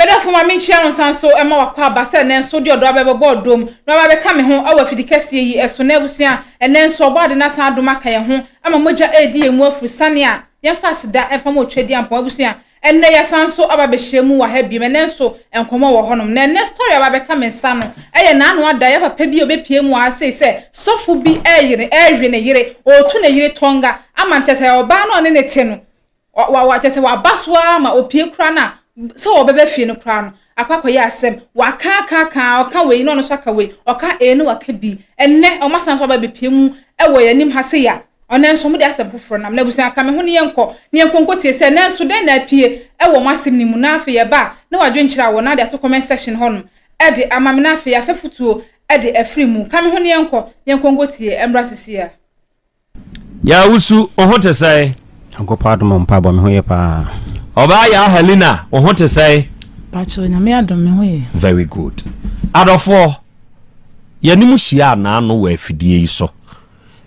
Me dɔfo, ma minkyia wo nsa nso mma w'akwaaba sɛ ɛnnɛ nso wode ɔdɔ aba abɛbɔ ɔdɔ mu na woaba abɛka me ho wɔ afidi kɛseɛ yi so nnɛ abusua. Ɛnnɛ nso Ɔbɔade no asan adom aka yɛn ho ama mogya redi yɛn mu afiri sane a yɛmfa aseda mfa mmɔ Twadiampɔn abusua. Ɛnnɛ yɛasan nso aba abɛhyia mu wɔ ha bio. Ɛnnɛ nso nkɔmmɔ wɔ hɔnom. Na ɛnnɛ story a aba abɛka me nsa no yɛ n'ano ada, yɛn papa bi a ɔbɛpue mu wɔ ha sei sɛ sɔfo bi reyere, rewe ne yere, ɔretu ne yere tɔnga ama nkyɛ sɛ ɔbaa no a ɔne no te no Wa wa wa kyɛ sɛ waba so ara ma opie koraa no a sɛ wɔbɛba fie no koraa no akɔ akɔyɛ asɛm. Waka aka aka a ɔka wei na ɔno nso aka wei, ɔka A na waka B. Ɛnnɛ wɔasan so aba abepie mu wɔ yɛn anim ha sei a, ɔnnɛ nso wɔde asɛm foforɔ nam. Na abusua ka me ho ne yɛnkɔ ne yɛnkɔ nkɔtie sɛ nanso dɛn na apue wɔ mo asɛm no mu. Na afei ɛba a na wadwenkyerɛ awɔ na ade ato comment section hɔ nom de ama me na afei afɛ futuo de afiri mu. Ka me ho ne yɛnkɔ ne yɛnkɔ nkɔtie mmra sesie ara. Yaa wo su, wo ho te sɛn? Nyankopɔn adom a mpaabɔ me ho yɛ paa. Ɔbaa yaa Helena wo ho te sɛn? Pakyɛw nyame adom me ho yɛ. Very good adɔfoɔ yɛne mo hyiaa naano wɔ afidie yi so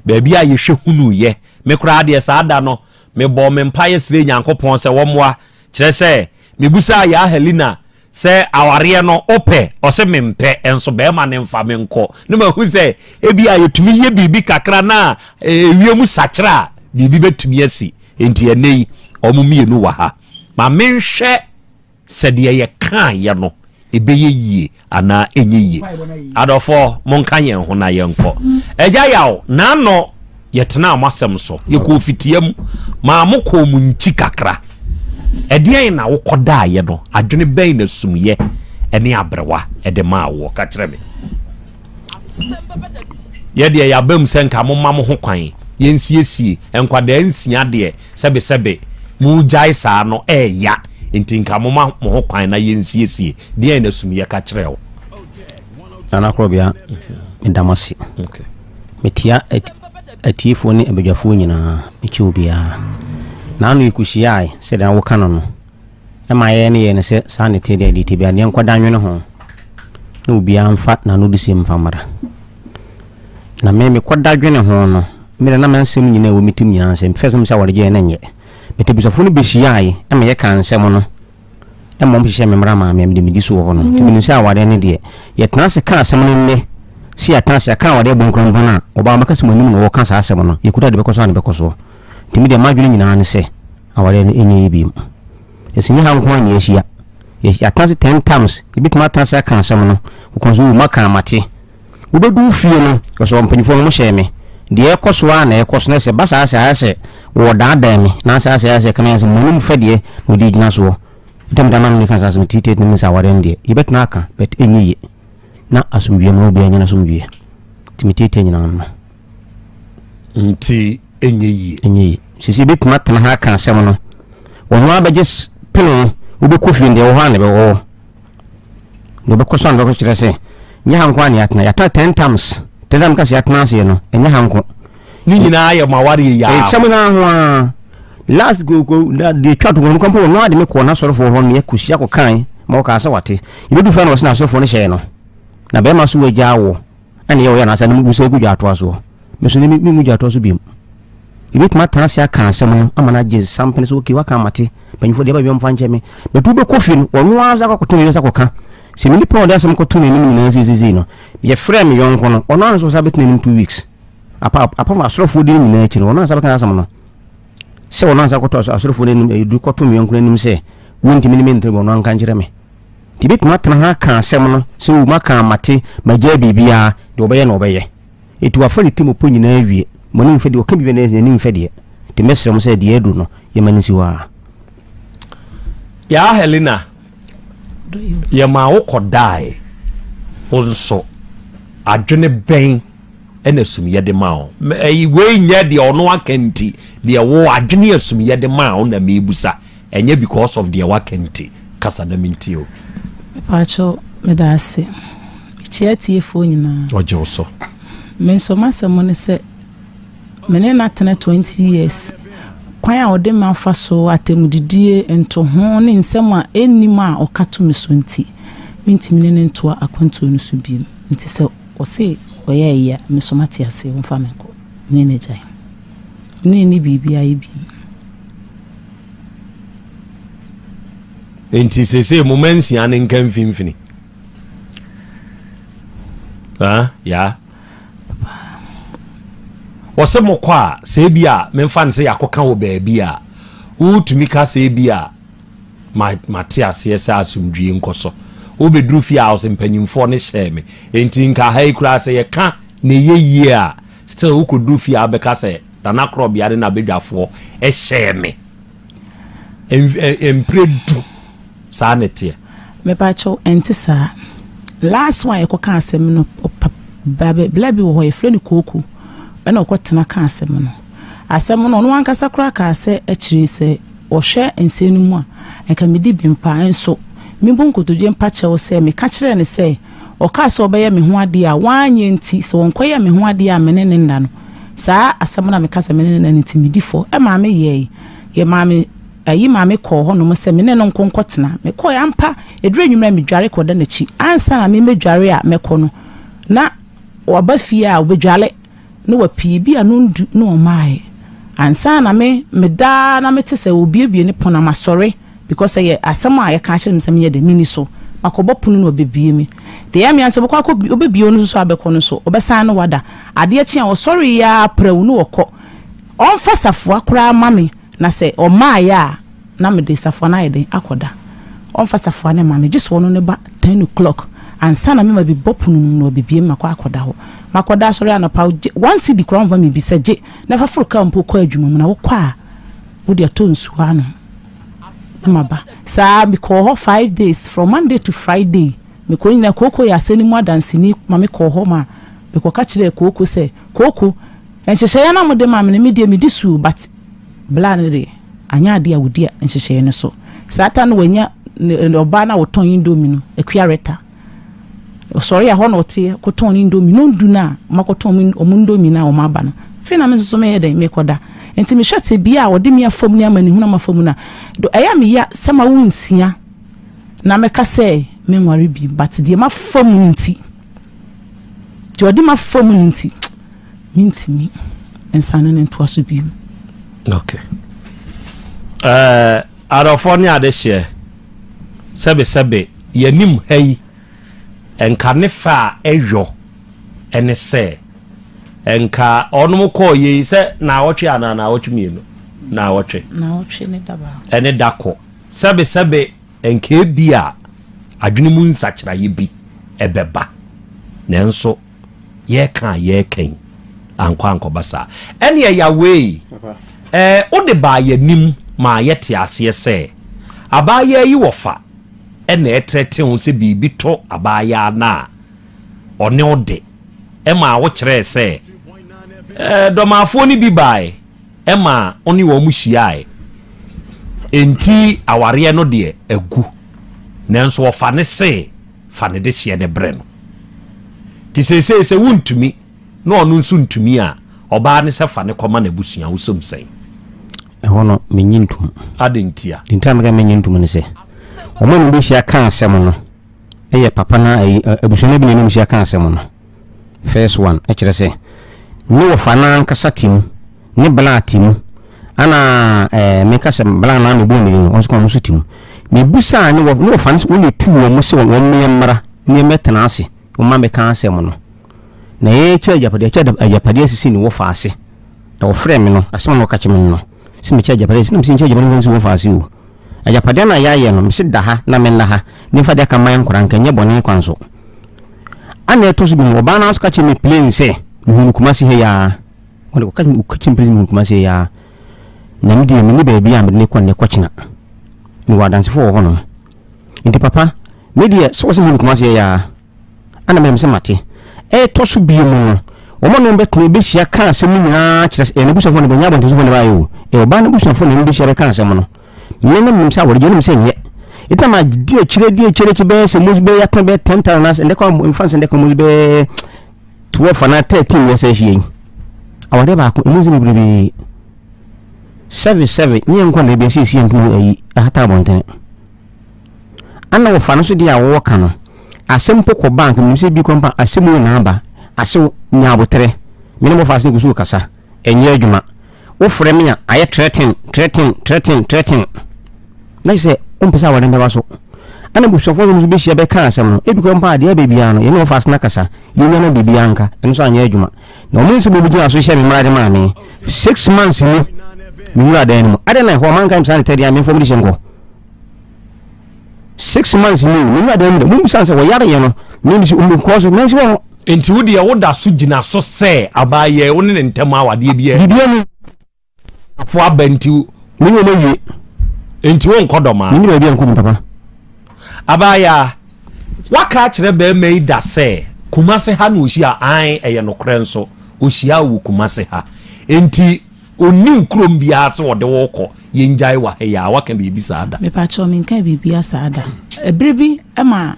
baabi a yɛhwɛ hunuu yɛ me koraa deɛ saa da no mebɔɔ me mpaeɛ srɛɛ Nyankopɔn sɛ wɔmmoa kyerɛ sɛ mebusaa yaa Helena Sɛ awareɛ no wopɛ? Ɔse mempɛ nso bɛɛma no mfa me nkɔ. Na mahu sɛ ebia yɛtumi yɛ biribi kakra na ɛwie mu sakyera a biribi bɛtumi asi. Enti ɛnnɛ yi wɔn mmienu wɔ ha. Ma menhwɛ sɛ deɛ yɛkaeɛ no ɛbɛyɛ yie anaa ɛnyɛ yie. Adɔfoɔ monka yɛn ho na yɛnkɔ. Agya Yaw, Naano. Yɛtenaa mo asɛm so, yɛkɔɔ fitia mu, maa mokɔɔ mo nkyi kakra. Ɛdeɛn na wokɔdaeɛ no? Adwene bɛn na sumyɛ ne aberewa de maa woɔ? Ka kyerɛ me. Yɛdeɛ yɛaba mu sɛ nka moma mo ho kwan, yɛnsiesie. Nkwadaa nsia deɛ, sɛbesɛbe, moregyae saa no ɛreya, enti nka moma mo ho kwan na yɛnsiesie. Deɛn na sumyɛ ka kyerɛɛ wo? Nana Korɔbea, meda mo ase. Metia atiefoɔ ne abadwafoɔ nyinaa, mekyɛ obiara. Naano yi kusiaae sɛdeɛ na woka no no, ɛma yɛyɛ ne yɛyɛ no sɛ saa ne te deɛ deɛ te bia deɛ nkɔda nwene ho na obiara mfa naano de sɛm mfa mmara. Na me mekɔda dwene ho no, mmerɛ na mansɛm nyinaa ɛwɔ me tim nyinaa nsɛm fɛ sɛ mesɛ wɔde gyeɛ na nyɛ. Metabusafoɔ no bɛsiaae ɛma yɛka nsɛm no. na mmom hyehyɛɛ me mmara maa me, na mede medi so wɔ hɔ no. Nti menim sɛ awadeɛ no deɛ, yɛtena ase ka asɛm no nnɛ, sɛ yɛatena ase aka awadeɛ bɔ nkura mpo no a, wɔbaa wɔbɛka sɛ mo anim na wɔreka saa asɛm no, yɛkuta deɛ ɛbɛkɔ so a na ɛbɛkɔ soɔ. Nti medeɛ m'adwene nyinaa ne sɛ awadeɛ no ɛnyɛ yie bio. Ɛsɛ ɛnyɛ ha nko ara na yɛahyia, yɛatena ase ten times, yɛbɛtumi atena ase aka asɛm no, wɔkɔn sɛ oo maka a mate, Wobedu fie no, ɔsɛ wɔn mpanyimfo no hyɛɛ me. Deɛ ɛrekɔ so ara na ɛrekɔ so, na sɛ ɛba saa sɛ ayɛ sɛ wɔredaadaa me, na saa sɛ ayɛ sɛ ɛka me ayɛ sɛ m'anom fɛ deɛ na ɔde gyina soɔ. Ɛtɔ mmeda maa me ka saa sɛ mete Tate no mu sɛ awareɛ no deɛ, yɛbɛtena aka, but ɛnyɛ yie. Na asomdwoeɛ ma obiara nya n'asomdwoeɛ. Nti me Tate nyinaa no. Nti ɛnyɛ yie. Ɛnyɛ yie. Sisi yɛbɛtumi atena ha aka asɛm no. Wɔn ara bɛgye pene, wobɛkɔ fie no deɛ ɛwɔ hɔ a na ɛbɛwɔ hɔ. na ɔbɛkɔ so anɔkɔ kyerɛ sɛ nyɛ ha nko a na yɛatena yɛatena ten times ten times kasi yɛatena aseɛ no ɛnyɛ ha nko ne nyinaa yɛ ma awareɛ yɛ a nsɛm no aho a last go go na deɛ twa to wɔn kɔmpɔ wɔn ade me kɔɔ n'asɔrefoɔ hɔ meyɛ kɔsi akɔ kan ma wɔkaa sɛ wate yɛbɛdu fa na wɔsɛ n'asɔrefoɔ no hyɛɛ no na bɛrima so wagya wɔ ɛne yɛ wɔyɛ anaasɛ no mu sɛ gu dwa atoa soɔ Me nso nnɛ me mu gyinatoɔ so biom. Yɛbɛtumi atena ase aka asɛm no ama no agye sampene sɛ okay waka mate mpanyimfoɔ deɛ ɛba biara mfa nkyɛ me. But wobɛkɔ fie no ɔno ara nso akɔto ne yere nsa kɔka. Sɛ me nipa a ɔde asɛm kɔto n'anim nyinaa seesei no yɛfrɛ me yɔnko no ɔno ara nso ɔsan bɛtena anim two weeks. Apa apart from asɔrefoɔ di no nyinaa akyi no ɔno ansa bɛka asɛm no sɛ ɔno ansa kɔtɔ asɔrefoɔ no anim ɛdu eh, kɔto me yɔnko no anim sɛ wontumi ne me ntere bɔ ɔno anka nkyerɛ me nti bɛtumi atena ha ka asɛm no sɛ woma ka mate magyaa biribiaa deɛ ɔbɛyɛ na ɔbɛyɛ Enti wɔafa ne temmupɔ nyinaa awie. Mo ani mfɛ deɛ ɔka biribi anaa n'ani mfɛ deɛ. Enti mɛsrɛ mo sɛ deɛ aduru no, yɛmma no nsi hɔ ara. Yaa Helena, yɛmaa wokɔdae. Wo nso, adwene bɛn na sumyɛ de maa wo? Wei nyɛ deɛ ɔno aka nti, deɛ wo adwene a sumyɛ de maa wo na merebisa. Ɛnyɛ because of deɛ waka nti kasa dɛm nti o. Mepaakyɛw medaase. Mekyia atiefoɔ nyinaa. Ɔgye wo so. Me nso m'asɛm ne sɛ me ne no atena 20 years. Kwan a ɔde me afa so, atɛmudidie, ntoho ne nsɛm a ɛnnim a ɔka to me so nti, mentumi ne no ntoa akwantuo no so biom. Nti sɛ ɔse ɔyɛ ayi a, me nso mate ase, ɔmfa me nkɔ. Me ne no agyae. Me ne no nni biribiara yɛ biom. nti sese mo ma nsia no nka mfimfini ah, ya wɔsɛ mokɔ a sɛ bi a memfa no sɛ yɛakɔka wɔ baabi a wotumi ka sɛ bi a mate aseɛ sɛ asomdwie nkɔ so wobɛduru fie a ɔsɛ mpanyimfoɔ no hyɛɛ me enti nka ha yi koraa sɛ yɛka na ɛyɛ yie a still wokɔduru fie a wobɛka sɛ Danakorɔbea ne n'abadwafoɔ hyɛɛ me mprɛ du saa na ɛteɛ. Mepakyɛw ɛnte saa. Last one a yɛkɔ kaa asɛm no bla bi wɔ hɔ yɛfrɛ no Kooku ɛna ɔkɔ tena kaa asɛm no. Asɛm no ɔno ankasa koraa kaa sɛ akyire sɛ ɔhwɛ nsɛm no mu a nka medi bem paa nso mebu nkotodwe mpakyɛw sɛ meka kyerɛɛ no sɛ Ɔkaa sɛ ɔbɛyɛ me ho adeɛ a wanyɛ nti, sɛ ɔnkɔyɛɛ me ho adeɛ a me ne no nna no. Saa asɛm no a meka sɛ me ne no nna no nti, medi fɔ. Ɛmaa meyɛɛe. Yɛmaa me ayi maa me kɔɔ hɔnom sɛ me ne no nko nkɔtena. Mekɔɔe ampa. Ɛduru anwummerɛ a medware kɔda n'akyi. Ansa na memɛdware a mɛkɔ no, na waba fie a ɔbɛdware. Ne wapii bi a no ndu na ɔmaaɛ ansa na me me daa na me te sɛ obiebie ne pono na ma sɔre because sɛ yɛ asɛm a yɛ ka akyerɛ me sɛ me nyɛ dɛ me ni so ma kɔ bɔ pono na ɔbɛ bie me de yɛ me ansa ɔbɛ kɔ akɔ bi ɔbɛ bie ɔno nso so abɛ kɔ no so ɔbɛ san no wada adeɛ kye a ɔsɔre yɛ a prɛw na ɔkɔ ɔnfa safoa koraa ma me. Na sɛ ɔmmaeɛ a, na mede safoa no ayɛ dɛn akɔda? Ɔmfa safoa no mma me, gye sɛ ɔno no ba ten o'clock ansa na me ma bɛbɔ pono no mu na wabɛbue me makɔ akɔda hɔ. Makɔda asɔre anɔpa, wogye one cedi koraa ɔmfa mebisa, gye na fa foro kaa mpo kɔ adwuma mu na wokɔ a wode atɔ nsuo anom na maba. Saa mekɔɔ hɔ five days, from Monday to Friday mekɔ nyinaa, Kooko yɛ asɛnni mu adanseni ma mekɔɔ hɔ ma mekɔka kyerɛɛ Kooko sɛ, Kooko, Nhyehyɛeɛ no a mode ma me no, me deɛ medi soo but bla no deɛ anyɛ adeɛ a wɔdi nhyehyɛeɛ no so. Saa ta no wanya ne ɔbaa no a ɔtɔn indomie no, Akua Rita. Ɔsɔre a hɔ na ɔteɛ kɔtɔn ne indomie no ndu no a wɔakɔtɔn wɔn indomie no a wɔaba no. Afei na me nso so meyɛ dɛn? Merekɔda. Nti mehwɛ tebea a wɔde me afa mu ne amanehunu a mafa mu no a, do ɛyɛ a meya sɛ mawo nsia na mɛka sɛ menware bio but deɛ mafa mu no nti, deɛ ɔde me afa mu no nti. Mentumi nsan ne no ntoa so bio. Ok. Ɛɛ adɔfoɔ ne adehyeɛ, sɛbesɛbe yɛnim ha yi, nka ne fɛ a ɛyɔ ɛne sɛ, nka ɔnom kɔɔ yɛ yi sɛ naawɔtwe anaa naawɔtwe mmienu, naawɔtwe. Naawɔtwe ne da baako. Ɛne da kɔ. Sɛbesɛbe nka ebi a adwene mu nsakyeraeɛ bi ɛbɛba. Nanso. yɛreka a yɛreka yi ankɔ ankɔba saa. Ɛneɛ Yawee, ɛɛ wode baa yɛanim maa yɛte aseɛ sɛ abaayaa yi wɔfa ɛna ɛtrɛte ho sɛ biribi tɔ abaayaa no a ɔne wo de ɛma wo kyerɛɛ sɛ ɛɛ dɔmaafoɔ no bi baae ɛma wo ne wɔn hyiaae enti awareɛ no deɛ agu nanso ɔfa ne se Fa ne dehyeɛ no brɛ no. Nti seesei sɛ wontumi na ɔno nso ntumi a, ɔbaa no sɛ fa no kɔma n'abusua. Wosom sɛn? Ɛhɔ no, mennye ntom. Adɛn ntia? Deɛ nti a meka mennye ntom ne sɛ, wɔn a wɔbɛhyia ka asɛm no yɛ papa no a abusua no bi na ɛne wɔhyia ka asɛm no. First one kyerɛ sɛ ne wɔfa no ankasa te mu, ne bla te mu, ana ɛɛ meka sɛ bla na mebɔ ne din no, wɔn nso ka wɔn nso te mu. Mebisa a ne wɔ ne wɔfa no sɛ wɔn na etu wɔn sɛ wɔn mmea mmra ne mmɛtena ase, wɔn ma meka asɛm no. Na yɛkyɛ agyapadeɛ, yɛkyɛ agyapadeɛ asisi ne wɔfa ase. Na wɔfrɛ me no, asɛm a na wɔka kyerɛ me no. Se mekyɛ agyapade se na mese nkyɛ agyapade mfa nsi wo faase o Agyapade a na yɛayɛ no mese da ha na menna ha memfa de aka man nkora nka nyɛ bɔne kwan so Ana ɛtɔ so bi no ɔbaa no ara nso ka kyerɛ me plain sɛ mehu no Kumasi ha yi ara Ɔde ɔka kyerɛ me plain sɛ mehu no Kumasi ha yi ara Na me deɛ menni baabi a mede no kɔ nnɛ kɔkyena Mewɔ adansefo wɔ hɔnom Nti papa me deɛ sɛ ɔse mehu no Kumasi ha yi ara Ana meyam sɛ mate. Ɛtɔ so bio mu no, wɔn a na wɔbɛtena hɔ bɛhyia kaa asɛm no nyinaa, kyerɛ sɛ, ɛyɛ n'abusuafoɔ na bɛnyɛ abɔntensofoɔ na ɛbaeɛ o, ɛyɛ ɔbaa no abusuafoɔ na wɔbɛhyia bɛka asɛm no. Me na menim sɛ awɔregye, wonim sɛ nyɛ. Enti na madi akyiri, adi akyiri, akyi bɛyɛ sɛ mos bɛyɛ atena bɛyɛ 10 tara anaasɛ ndɛkɔ a mfa nsɛ ndɛkɔ mos bɛyɛ 12 anaa 13 yɛ sɛ ahyia yi. Awadeɛ baako, ɛmu nsɛm bebrebee. Sɛve sɛve, nyɛ nkɔ na ebi asiesie ntumi ayi ahata abɔntene. Ana wɔfa no so deɛ a wɔwɔ ka no asɛm mpo kɔ bank menim sɛ bi kɔ mpa asɛm mu na aba asew nya aboterɛ mene bɔfo ase ne gusu kasa ɛnyɛ adwuma wo frɛ me a ayɛ trɛten trɛten trɛten trɛten na sɛ wompɛ sɛ awɔden bɛba so ana busuafoɔ no nso bɛhyia bɛka asɛm no ebi kɔ mpa adeɛ abɛ biara no yɛne wɔfa ase na kasa yɛnya no biribi anka ɛno nso anyɛ adwuma na wɔn nsɛm obi gyina so hyɛ me mmara de maa me six months mu me wura dan no mu adɛn na ɛhɔ ɔmanka me saa ne tɛdeɛ a memfam de hyɛ nkɔ six months ni o mewura dan mu dɛ mo bisa sɛ wɔyare yɛ no mimi si omi nkɔɔ so nansi wɔ no. nti wo deɛ woda so gyina so sɛ abaayɛ wo ne ne ntɛm awadeɛ biɛ bibia ni afo aba nti mene ɔma wie nti wo nkɔ dɔma mene baabi a nkɔ mu papa abaayɛ waka akyerɛ bɛrima yi da sɛ kumase ha na ɔhyia an ɛyɛ nokorɛ nso ɔhyia wɔ kumase ha nti Ɔnnim kurom biara sɛ wɔde wo rekɔ, yɛngyae wɔ ha yi ara, woaka biribi saa da? Mepakyɛw, menkaa biribiara saa da. Bere bi ɛma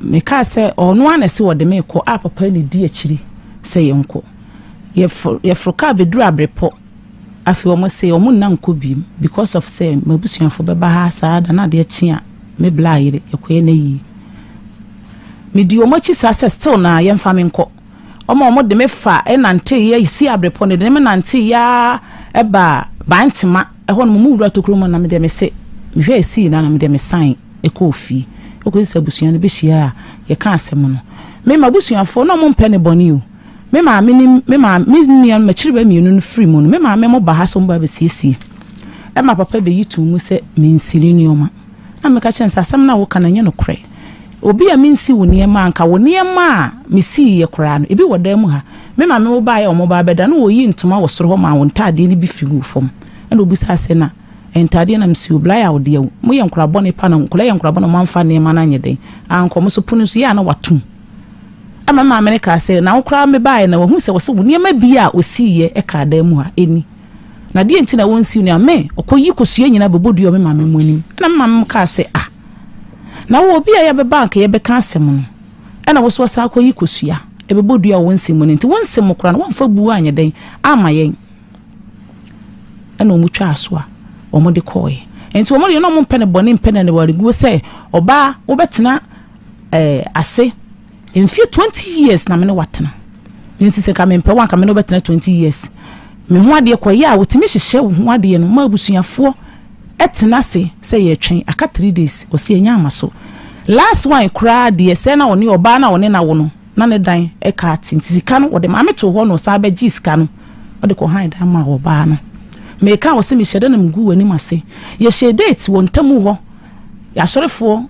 mekaa sɛ ɔno ara na ɛse wɔde me rekɔ a papa yi na edi akyiri sɛ yɛnkɔ. Yɛforo yɛforo kaa beduru Abrepɔ. Afei wɔn se wɔn nna nkɔ biem because of sɛ m'abusuafo bɛba ha saa da no ade akye a me bla ayere, yɛkɔyɛ n'ayie. Medii wɔn akyi saa sɛ still naa yɛmfa me nkɔ. Wɔn a wɔde me fa nanteeɛ a ɛsi aberepɔ no, wɔde ne me nanteeɛ ara baa Bantema. Ɛhɔ no, mo mu wura tokuro mu, na me deɛ mese, mehwɛ a ɛsii no ara na me deɛ mesan kɔɔ fie. Ɛkɔsi sɛ abusua no bɛhyiaeɛ a yɛkaa asɛm no. Me, m'abusuafoɔ, na wɔmpɛ no bɔne o. Me maame ne me maame, me nua, m'akyiriba mmienu no firi mu no, me maame mo ba ha sɛ wɔn bɛba abɛsiesie. Ɛma papa bɛyi too mu sɛ mensiri nneɛma. Na meka kyerɛɛ no sɛ, asɛm no a woka no, ɛnyɛ nokorɛ. Obi a mensi wo nneɛma a anka wo nneɛma a mesii yɛ koraa no, ebi wɔ dan mu ha. Me maame wobaeɛ a wɔba abɛda no wɔyii ntoma wɔ soro hɔ maa wo ntaadeɛ no bi fi guu fam. Ɛna ɔbisaa sɛ na ɛyɛ ntaadeɛ na mesii o, Blair wo deɛ mo yɛ nkwadaa bɔne paa na nkwadaa yɛ nkwadaa bɔne a wɔamfa nneɛma no anyɛ dɛn ankɔ wɔn so, pono nso yɛ a na wɔatom. Ɛna me maame no kaa sɛ na wo koraa mebaeɛ na wɔahunu sɛ wɔse wo nneɛma bi a ɔsiiɛ kaa dan mu ha, ɛnni. Na deɛ nti na wɔn nsiw nea me, ɔkɔ yi kosua nyinaa bɛbɔ dua wɔ me maame mo anim. Ɛna me maame mo kaa sɛ, Ah! Na wo, obi a yɛbɛba anka yɛbɛka asɛm no, ɛna wo nso wasan akɔ yi kosua, ɛbɛbɔ dua wɔ wo nsɛm mu no nti, wo nsɛm mu koraa no, woamfa buo anyɛ dɛn amma yɛn? Ɛna wɔn twaa so a, wɔn de kɔɔɛ. Nti wɔn deɛ na wɔn mpɛ ne bɔne, mpɛ ne aniwareguo sɛ, Ɔbaa, wobɛtena ɛɛ, ase. Mfie twenty years na me ne wo atena. Deɛ nti sɛ nka mempɛ wo a, nka me ne wo bɛtena twenty years. Me ho adeɛ kɔyɛ a, wɔtumi hyehyɛ wo ho adeɛ no ma abusuafoɔ tena ase sɛ yɛretwɛn, aka three days. Ɔse ɛnya mma so. Last one koraa deɛ, sɛ na ɔne ɔbaa no a ɔne no awo no, na ne dan ka ate nti sika no ɔde maame too hɔ na ɔsan bɛgyee sika no ɔde kɔhan dan maa ɔbaa no. Meka a wɔse mehyɛ da na megu w'anim ase. Yɛhyɛɛ date wɔ ntamu hɔ, yɛasɔrefoɔ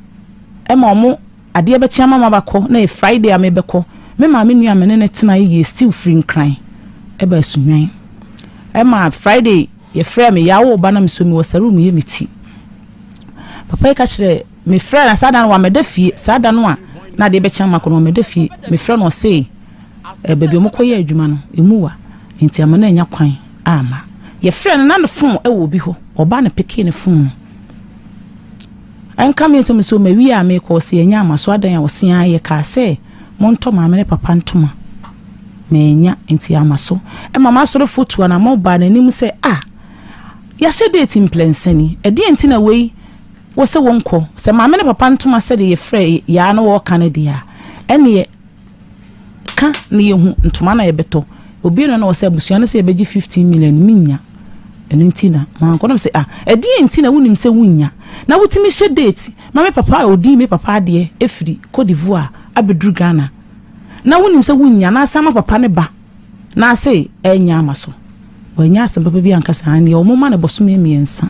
ma wɔn Adeɛ bɛkye ama mabakɔ na ɛyɛ Friday a mebɛkɔ. Me maame nua a me ne no tenaeɛ yɛɛ stew firi Nkran ba Asunywan. Ɛma Friday yɛfrɛɛ me Yaa woo ba na mesɔ mi wɔ sɛ room yɛ me ti. Papa yi ka kyerɛ me frɛ na saa da no wamɛda fie saa da no a na adeɛ bɛkye ama kɔ no wamɛda fie. Me frɛ no ɔse eh, baabi ɔmo kɔ yɛ adwuma no emu wa nti ama no anya kwan ama. Yɛfrɛ no na ne phone ɛwɔ obi hɔ ɔbaa no pekee ne phone no. Ɛnka me nso me so mawie a merekɔ ɔse yɛnyɛ amaso adɛn a ɔse aa yɛkaa sɛ montɔ maame ne papa ntoma mannya nti amaso ɛma m'asorefo tu anamɔn baa n'anim sɛ ah yɛahyɛ date mprɛnsa ni ɛdeɛn nti na wei wɔ sɛ wɔnkɔ sɛ maame ne papa ntoma sɛdeɛ yɛfrɛ yɛ aa na wɔreka no deɛ a ɛneɛ Ka na yɛhu ntoma na yɛbɛtɔ. Obi no na ɔsɛ abusua no sɛ yɛbɛgye 15 million mennya. Ɛno nti na mankɔ na sɛ ah ɛdeɛ nti na wonim sɛ wonnya na wotumi hyɛ date ma me papa a ɔdii me papa adeɛ ɛfiri Cote d'Ivoire abɛduru Ghana na wonim sɛ wonnya na asan ma papa no ba na ase ɛnyɛ ama so. Wannya asɛm papa bi anka saa ndeɛ wɔn ma no bɔsome mmiɛnsa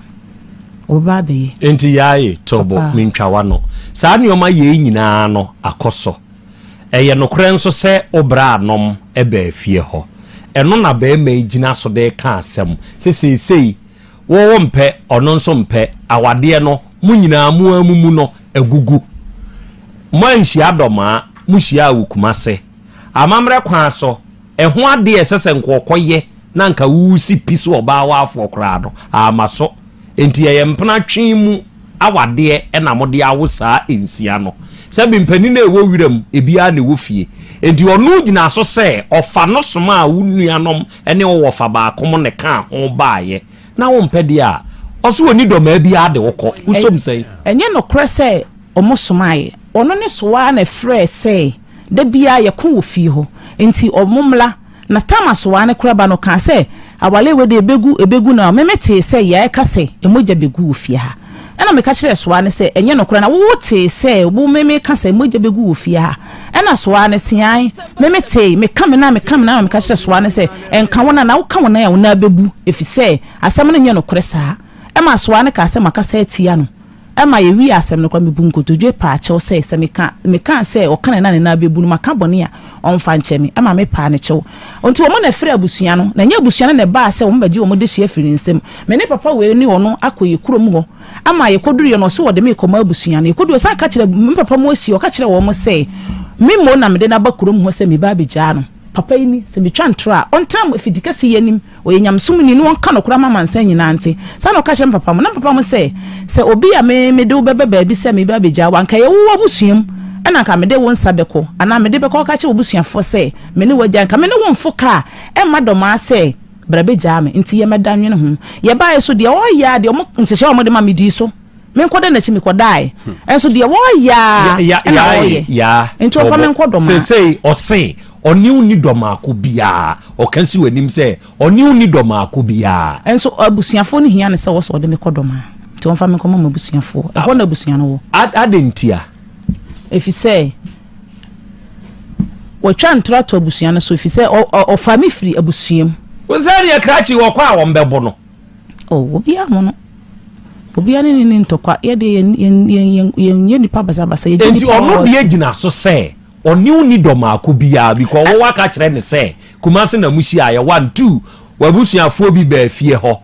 ɔbɛba abɛyɛ. Enti Yaye Turbo mentwa w'ano. Saa nneɛma yei nyinaa no akɔ so. Ɛyɛ nokorɛ nso sɛ wo braanom baa fie hɔ. Ɛno na barima yi gyina so de reka asɛm sɛ seesei wo wompɛ, ɔno nso mpɛ, awadeɛ no mo nyinaa mo ara mumu no agugu. Moanhyia Dɔmaa, mohyiaa Awukumase. Amammerɛ kwan so, Ɛho adeɛ a ɛsɛ sɛ nka ɔkɔyɛ na nka wosi pi so ɔbaa waafoɔ koraa no, amma so. Enti ɛyɛ mpena twe mu awadeɛ na mode awo saa nsia no. Sɛbe mpanin a ɛwɔ wiram, ebi ara na ɛwɔ fie. Enti ɔno gyinaa so sɛ ɔfa no somaa wo nuanom ne wo wɔfa baako mo na ɛkaa ho baeɛ. Na wompɛ deɛ a, ɔso ɔnni dɔ maa biara de wo kɔ. Wosom sɛn? Ɛnyɛ nokorɛ sɛ wɔsomaeɛ. Ɔno ne so ara na ɛfrɛɛ sɛ Da biara yɛko wɔ fie hɔ, enti wɔmmra. Na Tamar soaa ne koraba no kaa sɛ, Aware wei de, ɛbɛgu, ɛbɛgu na meme tee sɛ yɛreka sɛ, 'Mogya bɛgu wɔ fie ha. Ɛnna meka kyerɛɛ soaa no sɛ, 'Ɛnyɛ nokorɛ, na wo wotee sɛ wo meme reka sɛ, 'Mogya bɛgu wɔ fie ha. Ɛnna soaa no see, Aane, meme tee, meka me nan, meka me nan, na meka kyerɛɛ soaa no sɛ, 'Nka wo nan, na woka wo nan a, wo nan bɛbu, ɛfiri sɛ asɛm no nyɛ nokorɛ saa. Ɛmaa soaa no kaa sɛ, Makasa atia no. Ma yɛwie asɛm no koraa, mebu nkotodwe paa kyɛw sɛ, sɛ meka, mekaa sɛ ɔka ne nan ne nan bɛbu no, maka bɔne a ɔmfa nkyɛ me. Ɛma mepaa no kyɛw. Enti wɔn na ɛfrɛɛ abusua no, na ɛnyɛ abusua no na ɛbaa sɛ wɔbɛgye wɔn dehyeɛ afiri ne nsam. Me ne papa wei ne ɔno akɔ yɛn kurom hɔ, ama yɛkɔduruiɛ no, ɔse ɔde me rekɔma abusua no. Yɛkɔdui, ɔsan ka kyerɛ me papa mu ahyia, ɔka kyerɛɛ wɔn sɛ, me mmom na mede no aba kurom hɔ sɛ meba abɛgyaa no. Papa yi ni, sɛ metwa ntorɔ a, ɔntena mo afidikas yi anim. Ɔyɛ nyamesom ni na ɔnka nokorɛ ama amansan nyinaa nte. Saa na ɔka kyerɛ me papa mo. Na me papa mo sɛ, Sɛ obi a me mede wo bɛba baabi sɛ mereba abɛgyaa wo, anka ɛyɛ wo w'abusua mu, ɛna anka mede wo nsa bɛkɔ, anaa mede bɛkɔ akɔka kyerɛ w'abusuafoɔ sɛ me ne wo agyae, anka me ne wo mfo ka a ɛmma dɔmaa sɛ bra bɛgyaa me. Nti yɛ mɛdannwene ho. Yɛbaeɛ so deɛ ɔreyɛ ara deɛ wɔn nhyehyɛeɛ a wɔde ma me dii so. menkɔ dɛ n'akyi mekɔdae nso deɛ wɔreyɛ a ɛna wɔreyɛ nti ɔfa menkɔ dɔm a sesei ɔse ɔne wo ni dɔmaako biara ɔka si w'anim sɛ ɔne wo ni dɔmaako biara nso abusuafoɔ no hia ne sɛ wɔsɛ ɔde mekɔ dɔm a nti ɔmfa menkɔ ma m'abusuafoɔ ɛhɔ na abusua no wɔ adɛn ntia ɛfi sɛ wɔtwa ntorɔ ato abusua no so ɛfi sɛ ɔfa me firi abusuam wo sɛ deɛ krakye wɔkɔ a wɔmbɛbo no Oh, obiara ho no. Obiara ne ne ne ntɔkwa. Yɛ deɛ yɛn yɛn yɛn yɛn yɛn yɛ nipa basabasa. Yɛ Enti nipa ɔno deɛ gyina so sɛ ɔne wo ni dɔ maako biara because wɔwɔ aka kyerɛ ne sɛ Kumasi na mo hyiaeɛ one two w'abusuafoɔ bi baa fie hɔ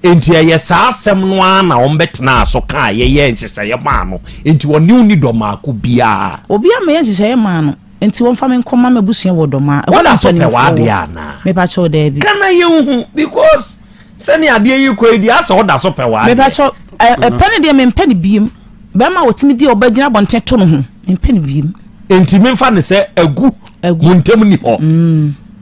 enti ɛyɛ saa asɛm no ara na wɔn bɛtenaa so kaa yɛyɛɛ nhyehyɛeɛ maa no enti ɔne wo ni dɔ maako biara. Obiara ma yɛ nhyehyɛeɛ maa no. Nti wɔmfa me nkɔma m'abusua wɔ dɔm a ɛhɔ na mpanimfoɔ wɔ. Mepakyɛw daabi. Kana yɛnhu because sɛnea adeɛ yi kɔ yi deɛ asɛ ɔda so pɛ w'adeɛ. Mepakyɛw ɛpɛ ne deɛ mempɛ ne biem. Bɛrima a wɔtumi di a wɔbɛgyina abɔnten to no ho mempɛ ne biem. Nti memfa ne sɛ agu mo ntam ni hɔ. Mm.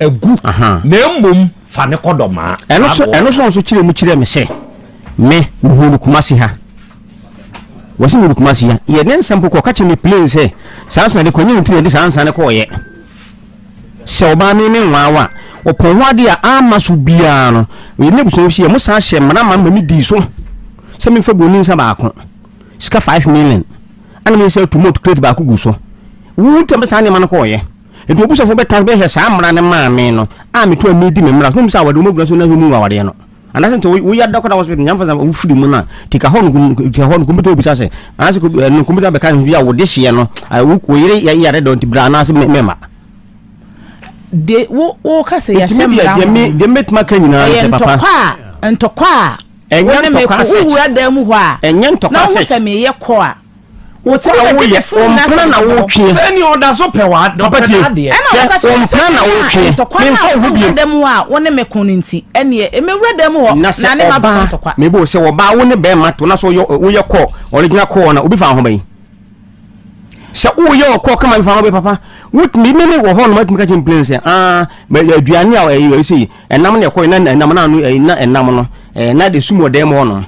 agu, na mmom fa no kɔ dɔmaa. Ɛno so ɛno so nso kyerɛ mu kyerɛ me sɛ me mehu no Kumasi ha. Wɔsi mu no Kumasi ha. Yɛ ne nsɛm kɔkɔ ka kyerɛ me plain sɛ saa nsa de kɔnyɛ ntiri de saa nsa ne kɔɔyɛ. Sɛ ɔbaa me me nwaa wa ɔpɔn ho ade a ama so biara no yɛ ne busua si yɛ mo san hyɛ mmara ma me di so sɛ me fɛ boni nsa baako sika 5 million ana me sɛ tumot crate baako gu so. Wo ntɛm saa nneɛma no kɔɔyɛ. Enti w'abusuafo bɛtaa so bɛhwehwɛ saa mmara no maa me no a meto a medi me mmara so na wɔhu sɛ awadeɛ mu agyina so na ɛho mu awadeɛ no. Anaasɛ nti woyɛ adakɔda hospital nyame fa sɛ wofiri mu no a tika hɔ no tika hɔ no kɔmputa wobisa sɛ anaasɛ kɔmputa bɛka no bi a wode hyeɛ no wo yere yare dɔ nti bra anaasɛ mɛma de wo wo ka sɛ yɛhyɛ mmara ho deɛ mɛtumi aka nyinaa sɛ papa ntɔkwa a ntɔkwa a ɛnyɛ ntɔkwa sɛ wowura dan mu hɔ a ɛnyɛ ntɔkwa sɛ na wo sɛ meyɛ kɔ a wote awo yɛ ɔmpena na wotwe sɛ ni ɔda so pɛ wa dɔpɛ adeɛ ɛna ɔka kyerɛ me sɛ na wotwe ntɔkwa na ɔkɔ wura dɛm hɔ a wo ne me ko no nti ɛneɛ ɛmɛ wura dɛm hɔ na sɛ ɔbaa mebo sɛ ɔbaa wo ne bɛrima to na sɛ woyɛ kɔ ɔregyina kɔɔ na obi fa ho bɛyi sɛ woyɛ ɔkɔ kama bi fa ho bɛ papa wotumi mene wɔ hɔ no matumi ka kyɛ mplane sɛ aduane a ɛyɛ sɛ Ɛnam na ɛkɔ na ɛnam na ano ɛyi na ɛnam no ɛɛ na de sum ɔdan mu hɔ nom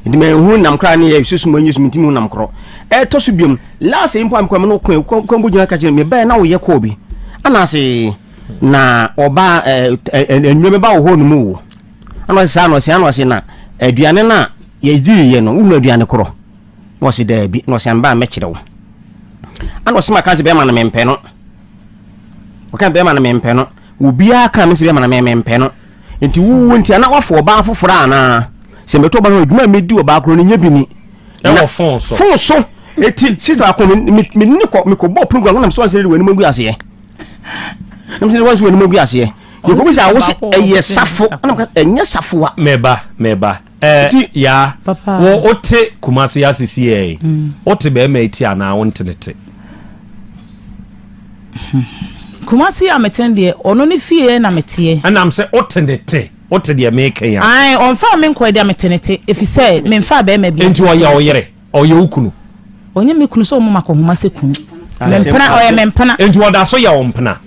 nti mɛ ehu nam koraa ne yɛ sum enyi sum nti mu nam korɔ ɛtɔ so biom laasa yi mpo amikɔ mu no kɔn kɔn kɔn bo gyina kakyɛ mɛ bɛyɛ na wɔyɛ kɔɔ bi anaase na ɔba ɛɛ ɛɛ ɛnua bɛba wɔ hɔ nom wo ana ɔsɛ saa na ɔsɛ ana ɔsɛ na aduane na yɛdi yɛ no wohunu aduane korɔ na ɔsɛ daabi na ɔsɛ anba a mɛkyerɛ wo ana ɔsɛ ma kan sɛ bɛrima no mempɛ no ɔka bɛrima no mempɛ no Obiara kaa me sɛ bɛma no me, mempɛ no. Nti wo wu nti ana wafo ɔbaa foforɔ anaa? Sɛ mɛtu ɔbaa no adwuma a mɛdi ɔbaa korɔ no nyɛ bi ni. Ɛwɔ fon so. Fon so. Eti sista ako me ne kɔ me kɔ bɔ punu kura wɔnam so ɔnsɛ de wɔn anim agu aseɛ. Nam sɛ wɔn so wɔn anim agu aseɛ. Yɛ kɔ bi sɛ awosɛ ɛyɛ safo ɛnam ka ɛnyɛ safo a. Mɛba mɛba. Ɛɛ yaa, wo wo te Kumasi ase si ɛɛ, mm. wo te bɛrima eti anaa wo nte ne te. Kumasi a mete deɛ ɔno ne fie na meteɛ. Ɛnam sɛ wo te ne te, wo te deɛ meka yi ase. Ayi, ɔnfa mi nkɔ deɛ mete ne te, efisɛ menfa bɛrima bi. Nti ɔyɛ ɔyere. Ɔyɛ wo kunu? Ɔnyɛ me kunu sɛ ɔma makɔ nhoma sɛ kunu. Me mpena, ɔyɛ me mpena. Enti ɔda so yɛ wo mpena?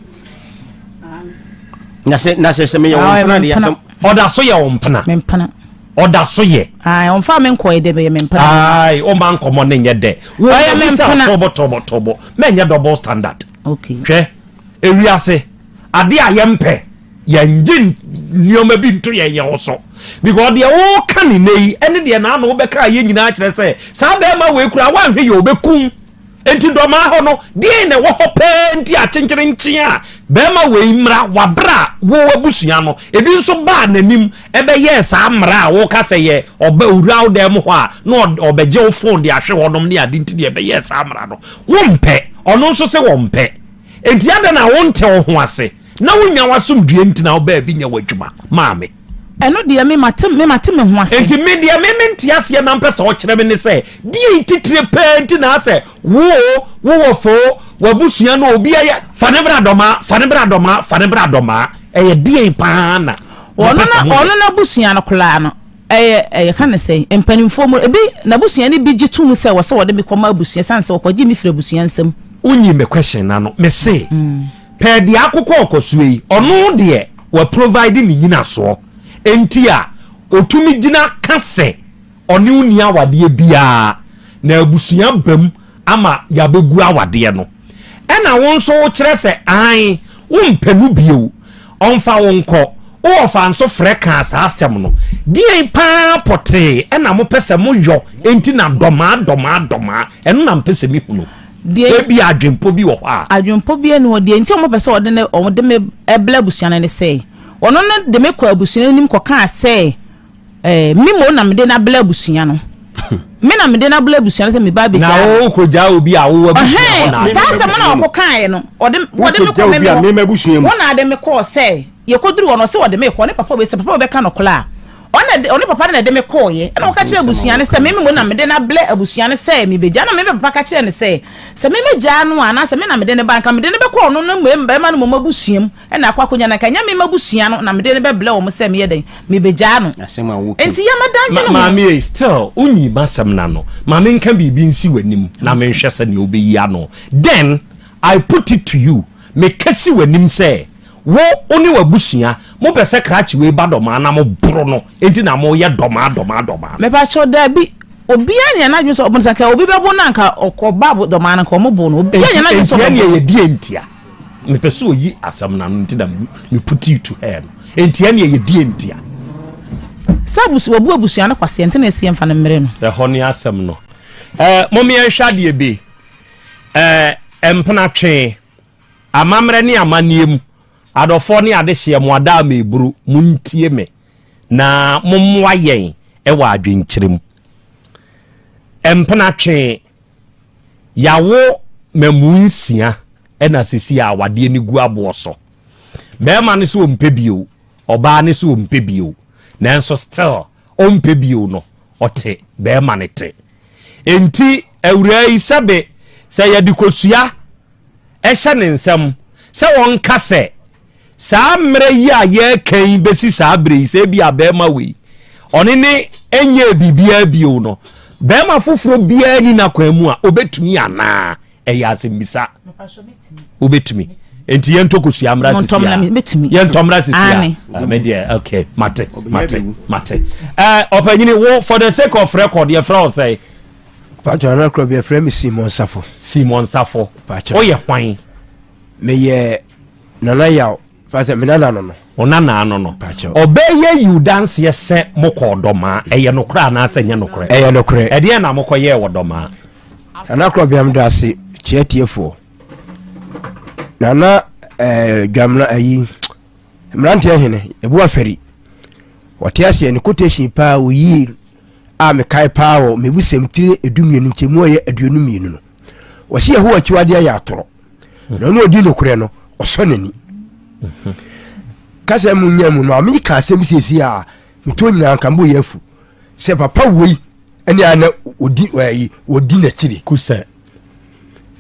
Na sɛ, na sɛ, sɛ meyɛ wo mpena deɛ asɛm. Ɔda so yɛ wo mpena? Me mpena. Ɔda so yɛ. Ae, ɔmfa me nkɔɛ dɛ, ɔyɛ me mpena. Ae, ɔmma nkɔmmɔ no nyɛ dɛ. Ɔyɛ me mpena. Tobo, tobo, tobo. Mɛnyɛ double standard. Okay. Hwɛ, ewiase. adeɛ a yɛmpɛ yɛngye nneɛma bi nto yɛn yɛn ho so because deɛ woka ne nɛ yi ɛne deɛ naano wobɛka a yɛ nyinaa kyerɛ sɛ saa bɛrima wei koraa woanhwɛ yɛ ɔbɛkum nti dɔmaa hɔ no deɛ na ɛwɔ hɔ pɛɛ nti akyenkyerenkyen a bɛrima wei mmara wabrɛ a wo abusua no ebi nso baa n'anim ɛbɛyɛɛ saa mmara a woka sɛ yɛ ɔbɛ owura wo dan mu hɔ a na ɔbɛgye wo fon de ahwe hɔnom ne ade nti deɛ ɛbɛyɛɛ saa mmara no wompɛ ɔno nso sɛ wɔmpɛ Enti adɛn na wonte wo ho ase na wonnya w'asomdwoeɛ nti na wobaa bi nyɛ w'adwuma maa me? Ɛno deɛ me mate me mate me ho ase. Enti me deɛ me mente aseɛ na mpɛ sɛ wokyerɛ me ne sɛ, deɛn titire paa nti na asɛ wo o, wo wɔfa o, w'abusua no o, obiara yɛ, fa no bra Dɔmaa, fa no bra Dɔmaa, fa no bra Dɔmaa, ɛyɛ deɛn paa na mopɛ sɛ moyɛ? Ɔno n'abusua no koraa no, Ɛyɛ, yɛka no sɛn, mpanimfoɔ mu no, ebi, n'abusua no bi gye to mu sɛ ɛwɔ sɛ wɔde me kɔma abusua ɛsiane sɛ wɔkɔgyee me firii abusua nsam. Wonyi me question no ano. Me se, per deɛ akokɔ rekɔ soɔ yi, ɔno deɛ wa provide ne nyinasoɔ nti a ɔtumi gyina ka sɛ ɔne wo nni awadeɛ biara na abusua ba mu, ama yɛabɛgu awadeɛ no, ɛna wo nso wokyerɛ sɛ aane wompɛ no bio, ɔmfa wo nkɔ, wo ɔfa nso frɛ kaa saa asɛm no, deɛn paa pɔtee ɛna mopɛ sɛ moyɔ nti na dɔmaa dɔmaa dɔmaa, ɛno na mpɛ sɛ mehunu. Deɛ, sɛ ebia adwenpɔ bi wɔ hɔ a. Adwenpɔ biara nni hɔ, deɛ nti a wɔpɛ sɛ wɔde ne, wɔde me ɛbla abusua no ne sɛ, wɔno no de me kɔɔ abusua no anim kɔkaa sɛ Eh, me mo na me de no abla abusua no. Me na me de no abla abusua no sɛ me ba abegya. Na wo ko gya obi a wo abusua ho na. Saa sɛ mo na ɔko kae no. Ɔde ɔde me kɔ me me. Wo na abusua mu. Wo na de me kɔ sɛ yɛkɔduru hɔ no ɔsɛ ɔde me kɔ ne papa wei sɛ papa wei bɛka no kola. Ɔna de ɔne papa no na de me kɔɔ yɛ. Ɛna ɔka kyerɛ abusua no sɛ me me mo na me de no abla abusua no sɛ me begya na me me papa ka kyerɛ no sɛ sɛ me me gya no a na sɛ me na me de no ba nka me de no bɛkɔ ɔno no mmɛma no mo abusua mu. Ɛna akɔ akɔnya no anka ɛnyɛ me mabusua no na mede no bɛblɛ wɔn sɛ meyɛ dɛn mebegyaa no nti yɛ ma dan dwene ho. Maame ei still wonyi masɛm no ano ma menka biribi nsi w'anim na menhwɛ sɛnea wobɛyi ano then I put it to you meka si w'anim sɛ wo wone w'abusua mopɛ sɛ krakye wei ba dɔmaa na moboro no enti na moyɛ dɔmaa dɔmaa dɔmaa no. Mepakyɛw daabi obiara nyɛ n'adwene sɛ ɔbɛnsa nka obi bɛbo no anka ɔkɔ ba dɔmaa no nka wɔn bo no obiara nyɛ n'adwene sɛ ɔbɛbo no. Nti ɛnneɛ yɛdeɛ ntia. Mepɛ sɛ oyi asɛm no ano nti na mepu tii tu hɛɛ no. Enti ɛnneɛ yɛdie ntia? Sɛ abusua, wabu abusua no kwaseɛ nti na ɛsi yɛmfa no mmere no. Ɛhɔ ne asɛm no. Eh, mom yɛnhwɛ adeɛ bi. Eh, mpenatwee, amammerɛ ne amanneɛ mu, adɔfoɔ ne adehyeɛ, mo adaa meeburu, montie me na mommoa yɛn wɔ adwenkyerɛ mu. Mpenatwee. Yɛawo mmamu nsia na sisi a awadeɛ no gu aboɔ so. Barima no so ɔmpɛ bio, ɔbaa no so ɔmpɛ bio. Nanso still ɔmpɛ bio no, ɔte barima no te. Enti awuraa yi sɛbe sɛ yɛde kosua ɛhyɛ ne nsam sɛ ɔnka sɛ saa mmerɛ yi a yɛreka yi bɛsi saa berɛ yi sɛ ebi a bɛrima wei ɔne ne ɛnyɛɛ biribiara bio no bɛrima foforɔ biara ni n'akwan mu a ɔbɛtumi anaa ɛyɛ asɛmmisa wobɛtumi nti yɛntɔ kosua mmra sisia yɛntɔ mmra sisia medeɛ okay mate mate mate ɔpanyini wo for the sake of record yɛfrɛ wo sɛ patɔ record yɛfrɛ me simon safo simon safo woyɛ hwan meyɛ nana yaw fasɛ me nana no no wo nana no no ɔbɛɛ yɛ yiw danseɛ sɛ mokɔɔ dɔmaa ɛyɛ nokorɛ anaasɛ nyɛ nokorɛ ɛyɛ nokorɛ ɛdeɛ na mokɔyɛɛ wɔ dɔmaa nana korɔ biam da ase kyerɛ tiefoɔ nana ɛɛ eh, dwamena ayi eh, mmeranteɛ hene ɛbu afɛri wɔte aseɛ ne quotation paa oyie a mekae paa wɔ mebusɛm tire ɛdu mmienu nkyɛmu a ɛyɛ aduonu mmienu no wɔsi ɛho akyiwadeɛ yɛ atorɔ na ɔno ɔdi nokorɛ no ɔsɔ n'ani mhm. kasa mu nya mu no a meka asɛm siesie a metɔ nyinaa nka mbɔ yɛ afu sɛ papa wei ɛne a na ɔdi ɛyi ɔdi n'akyiri kusɛ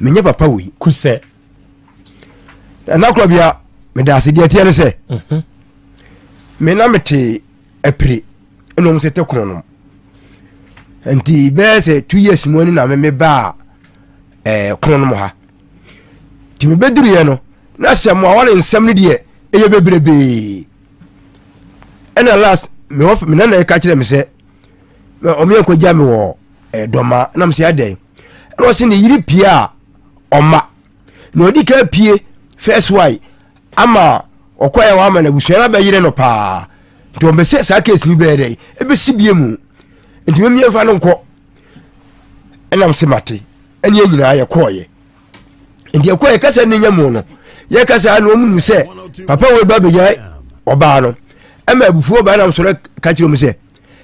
menyɛ papa wei kusɛ ɛna korɔ bia meda ase deɛ ɛteɛ ne sɛ mhm. me na mete apire ɛna ɔmo tete kono nom nti bɛyɛ sɛ two years mu ɛni na meme baa ɛɛ eh, kono nom ha nti mebe duru yɛ no na sɛ mo awɔ ne nsɛm no deɛ ɛyɛ bebrebee ɛna last me wɔ me nana ɛka kyerɛ me sɛ ɔmo yɛ nkɔ gya me wɔ ɛɛ eh, dɔma na mo sɛ adɛn ɛna ɔsi ne yiri pia ɔma. na ɔdi ka pie first wife ama ɔkɔɛ hɔ ama no abusua no abɛyere no paa nti ɔbɛsɛ saa case no bɛyɛ dɛ ɛbɛsi bie mu nti memie mfa no nkɔ ɛnam se mate ɛne nyinaa yɛkɔɔyɛ nti yɛkɔɔyɛ kasa ne nya mu no yɛka saa na ɔmunu sɛ papa wɔ ba bɛnya ɔbaa no ɛma abufuo ɔbaa nam sɔrɔ ka kyerɛ mu sɛ